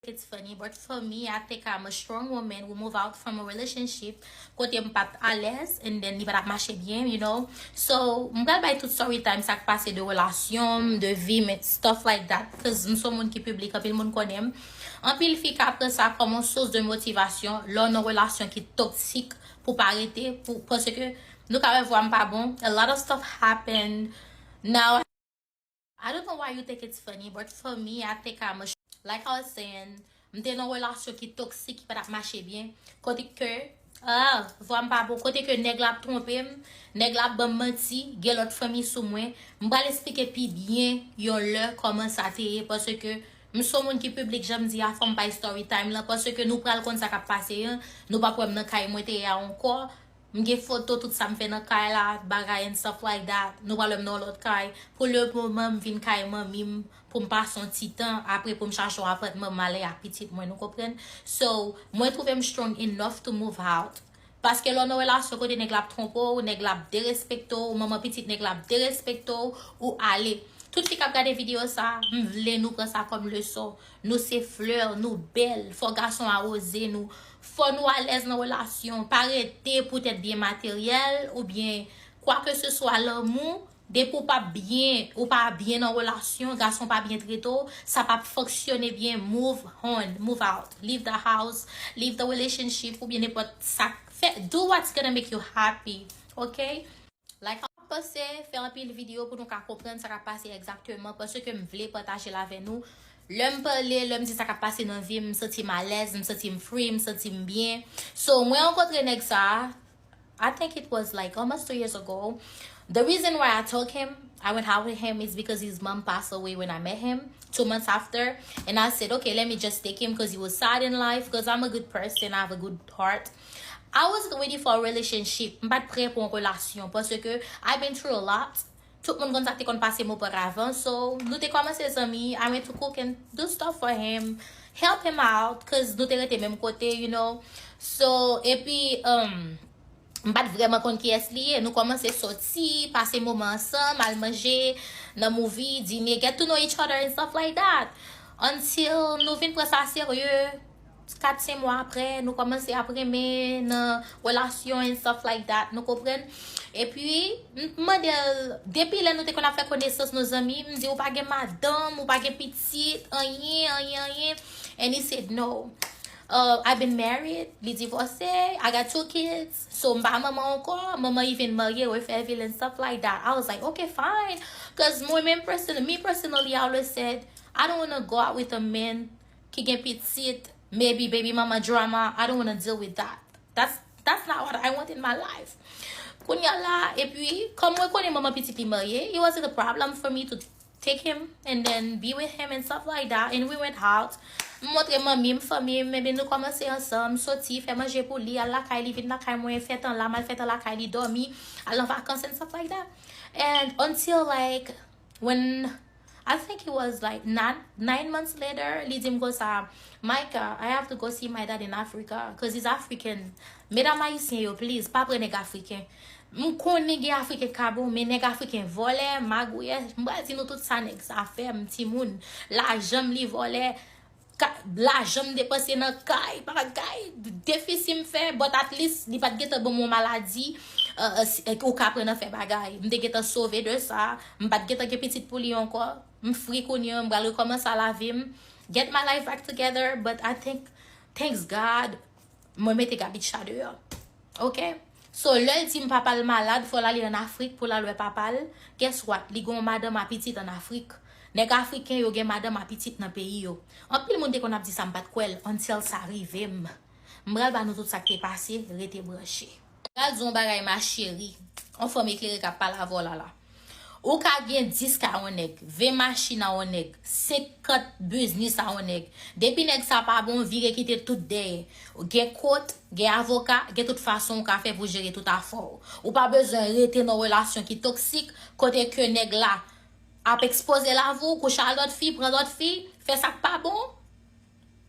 It's funny but for me I think I'm a strong woman who move out from a relationship kote m pat alèz and then li pa tap mache byen you know so m pral bay tout story time sak pase de relasyon m de vi m et stuff like that coz m son moun ki piblik anpil moun konnen m anpil fi ka pran sa kòm yon source de motivation lè w nan relasyon ki toxic pou pa rete pou paske nou ka wè vwa m pa bon a lot of stuff happened now I don't know why you think it's funny but for me I think I'm a Like I was saying, m te nan relasyon ki toksik ki pa t ap mache byen, kote ke Ahh! Vwa m pa bon. Kote ke nèg la ap twonpe m, nèg la ap ban m manti, gen lòt fanm li sou mwen. M pral esplike pi byen yon lè kòman sa te ye paske m se yon moun ki piblik jan m di a fò m bay story time lan paske nou pral konn sa k ap pase an, nou p ap wè m nan kay mwen te ye a ankò. M gen foto tout sa m fè nan kay la, bagay and stuff like that. Nou pral wè m nan yon lòt kay. Pou le moman m vin kay manmi m pou m pase yon ti tan, apre pou m chache yon apatman m ale ak pitit mwen, nou konprann? So, mwen twouve m strong enough to move out. Paske lè w nan relasyon kote nèg la ap twonpe w, nèg la ap derespekte w, manman pitit nèg la ap derespekte w, ou ale. Tout fi k ap gade videyo sa, m vle nou pran sa kòm leson. Nou se fleur, nou bèl, fò gason awoze nou, fò nou alèz nan relasyon, pa rete pou tèt byen materyèl ou byen kwa ke se swa lanmou, depi w pap byen, ou pa byen nan relasyon, gason pa byen trete w, sa pap fonksyone byen, move on, move out, leave the house, leave the relationship ou byen nenpòt sak fè, do what's gonna make you happy, ok. Like ap pase, fè anpil video pou nou ka konprann sa kap pase egzakteman paske m vle pataje l avè nou. Lè m pale, lè m di sa kap pase nan vi m, m santi m alèz, m santi m free, m santi m byen. So, mwen rankontre nèg sa a, I think it was like almost two years ago. The reason why I took him, I went out with him is because his mom pass away when I met him, two months after. And I said, okay, let me just take him cuz he was sad in life, cuz I'm a good person, I have a good heart. I wasn't ready for a relationship, m pat prè pou yon relasyon paske I been through a lot, tout moun konn sa k te konn pase m auparavant so nou te kòmanse zanmi, I went to cook and do stuff for him, help him out cause nou te rete menm kote you know so epi umm m pat vrèman konn kiyès li ye, nou kòmanse sòti, pase moman ansanm, al manje, nan movie, dine, get to know each other and stuff like that until nou vin pran sa serye. 4 5 mwa aprè nou kòmanse ap renmen nan relasyon and stuff like that nou konprann epi m t mandel depi lè nou te konn ap fè konesans nou zanmi m di ou pa gen madanm ou pa gen pitit anyen anyen anyen and he said no uh, I been married li divòse I got 2 kids so m pa manman ankò manman li vin marye we fèvil and stuff like that I was like ok fine cuz mwen menm personally me personally I always said I don't wanna go out with a man ki gen pitit maybe baby mama drama I don't wanna deal with that that's not what I want in my life kounya la epi kòm mwen konnen manman pitit li marye it wasn't a problem for me to take him and then be with him and stuff like that and we went out m montre manmi m fanmi m ebyen nou kòmanse ansanm soti fè manje pou li al lakay li vin lakay mwen fè tan la m al fè tan lakay li dòmi al nan vakans and stuff like that and until like when I think it was like not nine months later li dim konsa Micah I have to go see my dad in Africa cuz he's African medam ayisyen yo please pa pran nèg afriken m konnen gen afriken ka bon men nèg afriken vòlè magouyè m pral di nou tout sa nèg sa fè m timoun lajan m li vòlè Ka, lajan m depanse nan kay, bagay, defisi m fè, but at least li pa t gentan ban m yon maladi ou ka pran nan fè bagay. M te gentan sove de sa, m pa t gentan gen pitit pou li ankò. M free kounye an, m pral rekòmanse a lavi m, get my life back together, but I think, thanks God, Mwen mete Gabica deyò ok so lèl di m papal malad fòl ale an afrik poul al wè papal guess what li gon madanm a pitit an afrik nèg afriken yo gen madanm a pitit nan peyi yo anpil moun te konn ap di sa m pat kwèl until sa rivem m pral ba nou tout sak te pase rete branche. Gad yon bagay ma chérie. On fanm eklere kap pale avèw la la. Ou ka gen 10 ka on nèg, 20 machin a on nèg, 50 biznis a on nèg. Depi nèg sa pa bon, vire kite tout dèyè. Gen kot, gen avoka, gen tout fason ou ka fè pou jere tout afèw. Ou pa bezwen rete nan relasyon ki toksik, kote ke nèg la ap ekspoze lavi w, kouche a lòt fi, pran lòt fi, fè sak pa bon.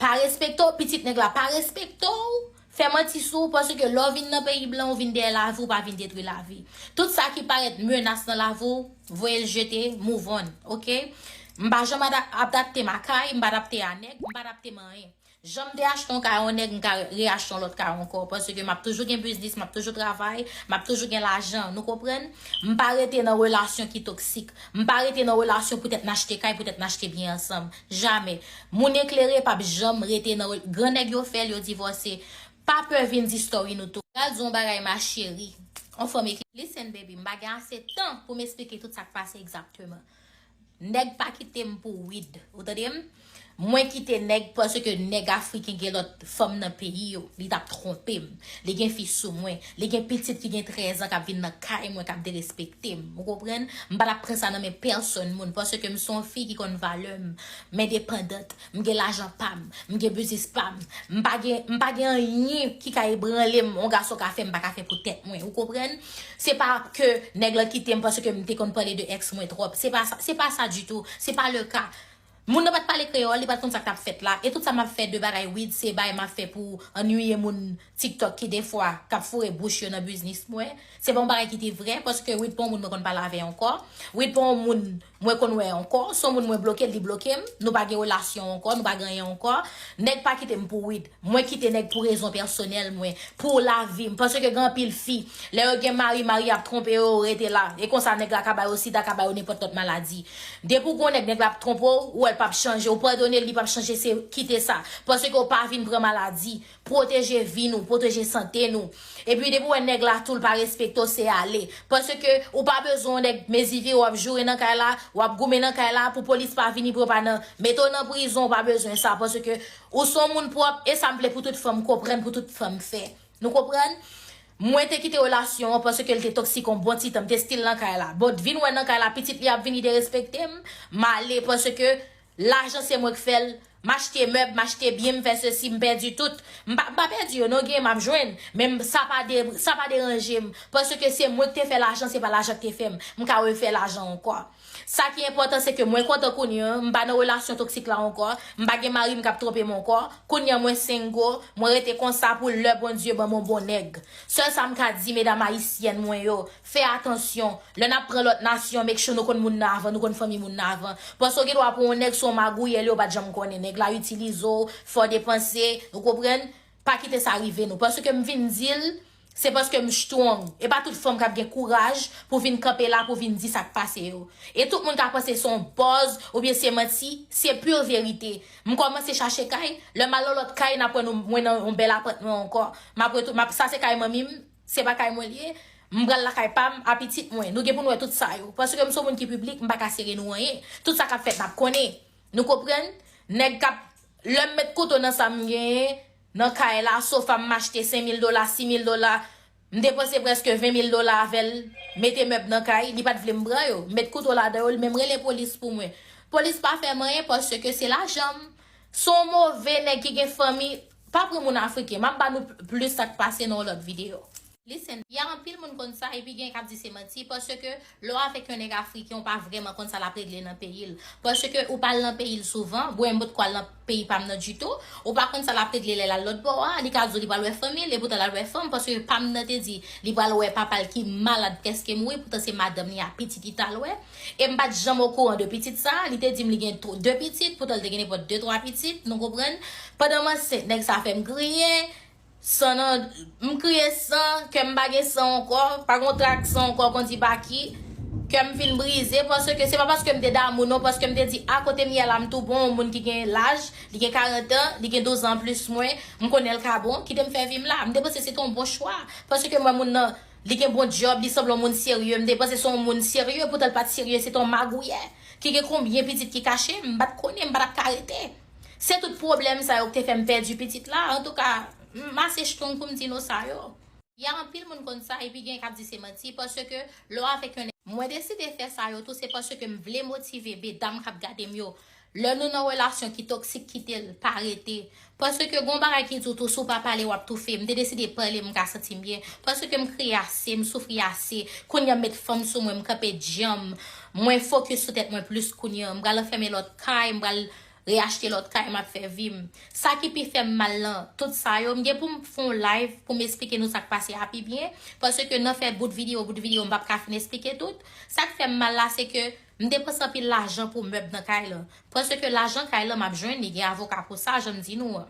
pa respekte w pitit nèg la pa respekte w fè manti sou ou paske lè w vin nan peyi blan ou vin dèyè lavi ou pa vin detwi lavi tout sa ki parèt menas nan lavi w voye l jete move on ok m pa janm adapte m a kay m pa adapte a nèg m pa adapte m a anyen jan m te achte yon kay a yon nèg m ka re achte yon lòt kay ankò paske m ap toujou gen biznis m ap toujou travay m ap toujou gen lajan nou konprann m pa rete nan relasyon ki toksik m pa rete nan relasyon poutèt n achte kay poutèt n achte byen ansanm. Jamè. Moun eklere pap janm rete nan rel gran nèg yo fèl yo divòse pa pè vin di story nou tou. Gad zon bagay ma chérie. On fanm ekle. Listen baby m pa gen ase tan pou m esplike tout sa k pase egzakteman. Nèg pa kite m pou wid. Ou tande m? Mwen kite nèg paske nèg afriken gen lòt fanm nan peyi yo. Li t ap twonpe m. Li gen fi sou mwen. Li gen pitit ki gen 13 an kap vin nan kay mwen kap derespekte m. Ou konprann? M pa tap pran sa nan men pèsòn moun paske m se yon fi ki konn valè m. M endepandant. M gen lajan pa m. M gen biznis pa m. M pa gen m pa gen anyen ki ka ebranle m yon gason ka fè m pa ka fè pou tèt mwen. Ou konprann? Se pa ke nèg lan kite m paske m te konn pale de ex mwen twòp. Se pa sa se pa sa ditou. Se pa le ka. Moun nan pat pale kreyol li pat konn sak tap fèt la e tout sa map fè de bagay wid se bay map fè pou annwiye moun tiktok ki defwa kap foure bouch yo nan biznis mwen se pa yon bagay ki te vrè paske wid pa yon moun mwen konn pale avè ankò wid pa yon moun mwen konn wè ankò son moun mwen blokel li blokem nou pa gen relasyon ankò nou pa gen anyen ankò nèg pa kitem pou wid. Mwen kite nèg pou rezon pèsonèl mwen, pou lavi m. Paske gen anpil fi, lè yo gen mari, mari a ap twonpe yo, yo rete la. E konsa nèg la ka ba yo sida, ka ba yo nenpòt lòt maladi. Depi w gen yon nèg, nèg la ap twonpe w, ou wè l pap chanje, ou padone l, li pap chanje, se kite sa. Paske w pa vin pran maladi. Pwoteje vi nou, pwoteje sante nou. Epi depi w wè nèg la tou l pa respekte w, se ale. Paske ou pa bezwen yon nèg mezi vire w ap joure nan kay la, w ap goumen nan kay la, pou polis pa vini pran w pa nan mete w nan prizon, ou pa bezwen sa. Paske Ou son moun pwòp esam vle pou tout fanm konprann pou tout fanm fè Nou konprann Mwen te kite relasyon an paske l te toksik yon bon titan m te stil nan kay la bon t vin wè nan kay la pitit li ap vini te respektem m ale paske lajan se mwen k fè l m achte mèb m achte byen m fè sesi m pèdi tout m pa m pa pèdi yo non genyen m ap jwenn men sa pa de sa pa deranjem paske se mwen k te fè lajan se pa lajan k te fè m m ka refè lajan ankò. Sa ki enpòtan se ke mwen kontan kounye an, m pa nan relasyon toksik la ankò, m pa gen mari m k ap twonpe m ankò, kounye an mwen single, mwen rete konsa pou lè Bondye ban m on bon nèg. Sèl sa m ka di medam ayisyèn mwen yo, fè atansyon, lè n ap pran lòt nasyon make sure nou konn moun nan avan, nou konn fanmi moun nan avan. Paske w gen dwa pran on nèg se on magouyè li yo pa t janm konnen nèg la itilize w, fè w depanse, ou konprann? Pa kite sa rive nou. Paske m vin di l, se paske m strong. E pa tout fanm k ap gen kouraj pou vin kanpe la pou vin di sa k pase yo. E tout moun ka panse se yon buzz oubyen se manti, se pur verite. M kòmanse chache kay, lè m al nan lòt kay n ap wè nou mwen nan yon bèl apatman ankò. M ap retou, m ap, sa se kay manmi m, se pa kay mwen li ye. M pral lakay pa m a pitit mwen. Nou gen pou nou wè tout sa yo. Paske m se yon moun ki piblik, m pa ka sere nou anyen. Tout sa k ap fèt n ap konnen. Nou konprann? Nèg k ap, lè m met kouto nan sa m genyen, nan kay la, sofa m achte senmil dola, simil dola, m depanse prèske venmil dola avè l, mete mèb nan kay, li pa t vle m pran yo, m met kouto ladan yo, li menm rele polis pou mwen. Polis pa fè m anyen paske se lajan m. S on move nèg ki gen fanmi, pa pran moun afriken, m ap ba nou plis sa k pase nan yon lòt videyo. Listen, ya anpil moun konn sa epi gen kap di se manti paske lè w avèk yon nèg afriken w pa vrèman konn sa lap regle nan peyi l paske ou pa al nan peyi l souvan bwè m potko al nan peyi pa m nan ditou ou pa konn sa lap regle lè l al lòtbò a li ka di w li pral wè fanmi l epoutan lal wè fanm paske pa m nan te di li pral wè papa l ki malad prèske mouri poutan se madanm li a pitit li tal wè e m pat janm okouran de pitit sa li te di m li gen 2 pitit poutan l te gen nenpòt 2 3 pitit nou konprann pandan m ansent nèg sa fè m griyen San nan M kriye san kè m pa gen san ankò Pa gon trak san ankò kondi pa ki Kè m fin brize paske Se pa paske m te damou non Paske m te di a kote m ye la m tou bon Yon moun ki gen laj Li gen 40 an Li gen 12 an anplis mwen M konnen l ka bon Kite m fè vi m la M te panse se te yon bon chwa Paske m wè moun nan Li gen bon dyòb Li sanble yon moun serye M te panse se yon moun serye Poutan l pa t serye Se te yon magouyè Ki gen konbyen pitit ki kache M pa t konnen M pa t ap ka rete. Se tout pwoblèm sa yo k te fè m pèdi pitit la, antouka, m ase strong pou m di no sa yo. Ya anpil moun konn sa epi gen k ap di se manti paske lè w avèk yon. Mwen deside fè sa yo tou se paske m vle motive medam k ap gade m yo lè nou nan relasyon ki toksik kite l pa rete paske gen yon bagay ki di w tou si w pa pale w ap toufe m te deside pale m ka santi m byen paske m kriye ase m soufri ase kounye a m met fanm sou mwen m kanpe djanm Mwen focus sou tèt mwen plus kounye an. M pral anfème lòt kay, m pral re achte lòt kay map fè vi m. Sa ki pi fèm mal nan tout sa yo, m gen poum fon live poum esplike nou sak pase a pi byen, paske nan fè bout video bout video m pap ka fin esplike tout. Sak fèm mal la se ke m depanse anpil lajan pou mèb nan kay lan. Paske lajan kay lan map jwenn li gen avoka pou sa janm di nou an.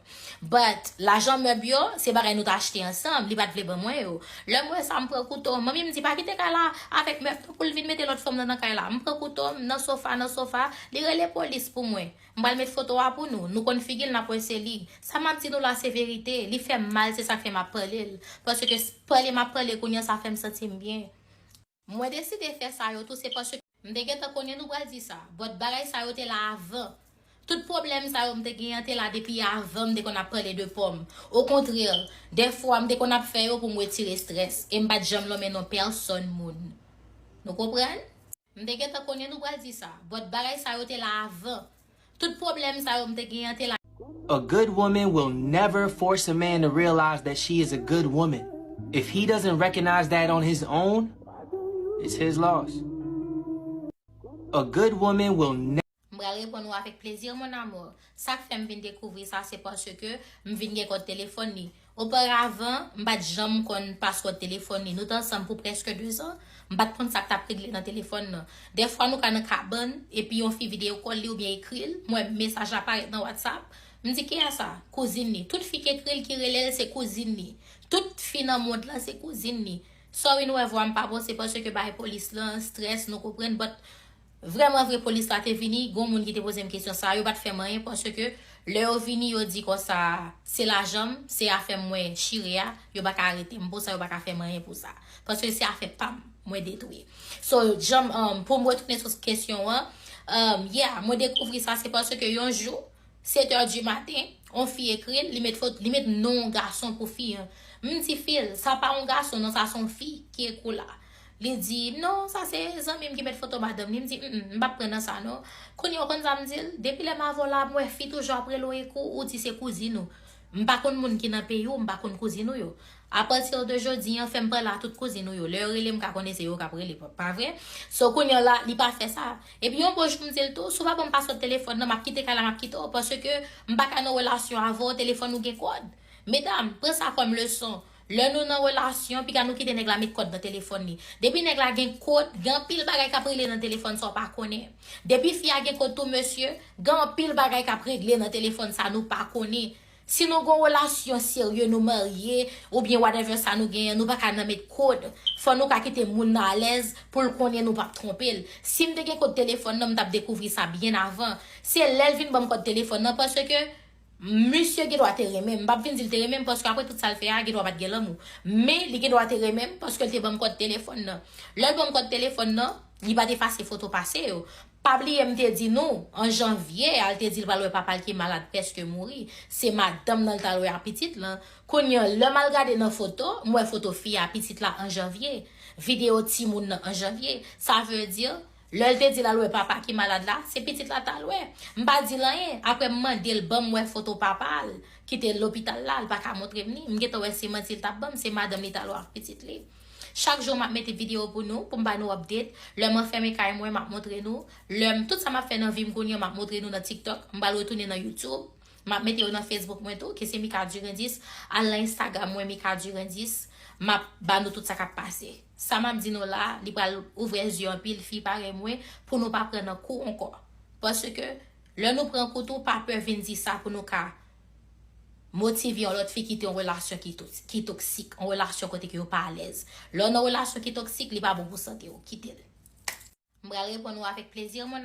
But lajan mèb yo se bagay nou t achte ansanm li pat vle ban mwen yo. Lèm wè sa m pran kouto, manmi m di pa kite kay la avèk mèb non poul vin mete lòt fanm nan nan kay la. M pran kouto m nan sofa nan sofa li rele polis pou mwen. M pral met foto a pou nou, nou konn figil nap wè se li. Sa map di nou la se verite, li fèm mal se sak fè map pale l. Paske pale map pale kounye an sa fèm santim byen. Mwen deside fè sa yo tou se paske. M te gentan konnen nou pral di sa. But bagay sa yo te la avan. Tout pwoblèm sa yo m te gen an te la depi avan m te konn ap pale de po m. Okontrè, dèfwa m te konn ap fè yo pou m retire strès. E m pa t janm lonmen non pèsòn moun. Nou konprann? M te gentan konnen nou pral di sa. But bagay sa yo te la avan. Tout pwoblèm sa yo m te gen an te la. A good woman will never force a man to realize that she is a good woman. If he doesn't recognize that on his own, it's his loss. A good woman will never. M pral reponn ou avèk plezi mon amour. Sa k fè m vin dekouvri sa se paske m vin gen kòd telefòn li. Oparavan, m pa t janm konn paswòd telefòn li. Nou t ansanm pou prèske dezan, m pa t konn sa k t ap regle nan telefòn nan. Dèfwa nou ka nan kabann, epi yon fi videokòl li oubyen ekri l, m wè mesaj la parèt nan Whatsapp, m di ki a sa? Kouzin li. Tout fi k ekri l ki rele l se kouzin li. Tout fi nan mond lan se kouzin li. Sorry nou wè vwa m pa bon se paske bagay polis lan, strès, nou konprann but Vrèman vre polis la te vini, gon moun ki te pozem kesyon sa, yo pat fèm anyen paske lè yo vini yo di konsa se lajanm, se afèm mwen chire a, yo paka aretem pou sa yo paka fèm anyen pou sa. Paske se afè pam mwen detwi. So janm poum retounen sou kesyon an, yeah mwen dekouvri sa se paske yon jou 7 heures du matin on fi ekril li met foto li met non yon gason pou fi an. M di fil sa pa yon gason non sa son fi ki ekri w la. Li di, non, sa se zanmi m ki met foto madanm li. M di, m m pap pran nan sa non. Kounye a ou konn sa m di l? Depi lè m avè w la, m wè fi toujou ap rele w Ekou, ou di se kouzin ou. M pa konn moun ki nan peyi w, m pa konn kouzin ou yo. Apati de jodi an, fè m pale a tout kouzin ou yo. Lè yo rele m ka konnen se yo k ap rele, pa vre? So kounye a la, li pa fè sa. Epi yon bon jou m di l tou, si w pa ban m paswòd telefòn nan, m ap kite kay la, m ap kite w. Paske m pa ka nan relasyon avè w, telefòn ou gen kòd. Medam, pran sa kòm leson. Lè nou nan relasyon, piga nou kite nèg la met kòd nan telefòn li. Depi nèg la gen kod, gen anpil bagay k ap regle nan telefòn sa w pa konnen. Depi fi a gen kod tou mesye, gen anpil bagay k ap regle nan telefòn sa nou pa konnen. Si nou gen yon relasyon serye, nou marye, oubyen whatever sa nou genyen, nou pa ka nan met kod. Fò nou ka kite moun nan alèz pou l konnen nou p ap twonpe l. Si m te gen kod telefòn nan, m t ap dekouvri sa byen avan. Se lè l vin ban m kòd telefòn nan paske Misye gen dwa te renmen m. M pap vin di l te renmen m paske apre tout sa l fè a, gen dwa pa t gen lanmou. Men, li gen dwa te renmen m paske l te ban m kòd telefòn nan. Lè l ban m kòd telefòn nan, li pa t efase foto pase yo. Pa bliye m te di nou, an janvye a, l te di l pral wè papa l ki malad prèske mouri. Se madanm nan l t al wè ak pitit lan. Kounye an, lè m al gade nan foto, m wè foto fi a, pitit la an janvye. Videyo timoun nan an janvye. Sa vle di, Lè l te di l al wè papa ki malad la, se pitit la ta al wè. M pa di l anyen, aprè m mande l ban m wè foto papa l ki te lopital la, l pa ka montre m ni. M gentan wè se manti l t ap ban m, se madanm li t al wè ak pitit li. Chak jou m ap mete videyo pou nou, pou m ba nou update. Lè m anfème kay mwen, m ap montre nou. Lè m, tout sa m ap fè nan vi m kounye an, m ap montre nou nan TikTok. M pral retounen nan YouTube. M ap mete yo nan Facebook mwen tou, ki se Mika Durandis. Al nan Instagram mwen, Mika Durandis. M ap ba nou tout sa k ap pase. Sa map di nou la li pral ouvre zye anpil fi parèy mwen pou nou pa pran nan kou ankò paske lè nou pran kou tou pa pè vin di sa pou nou ka motive yon lòt fi kite yon relasyon ki toksik yon relasyon kote ke yo pa alèz lè w nan relasyon ki toksik li pa bon pou sante w kitel. M pral reponn ou avèk plezi mon.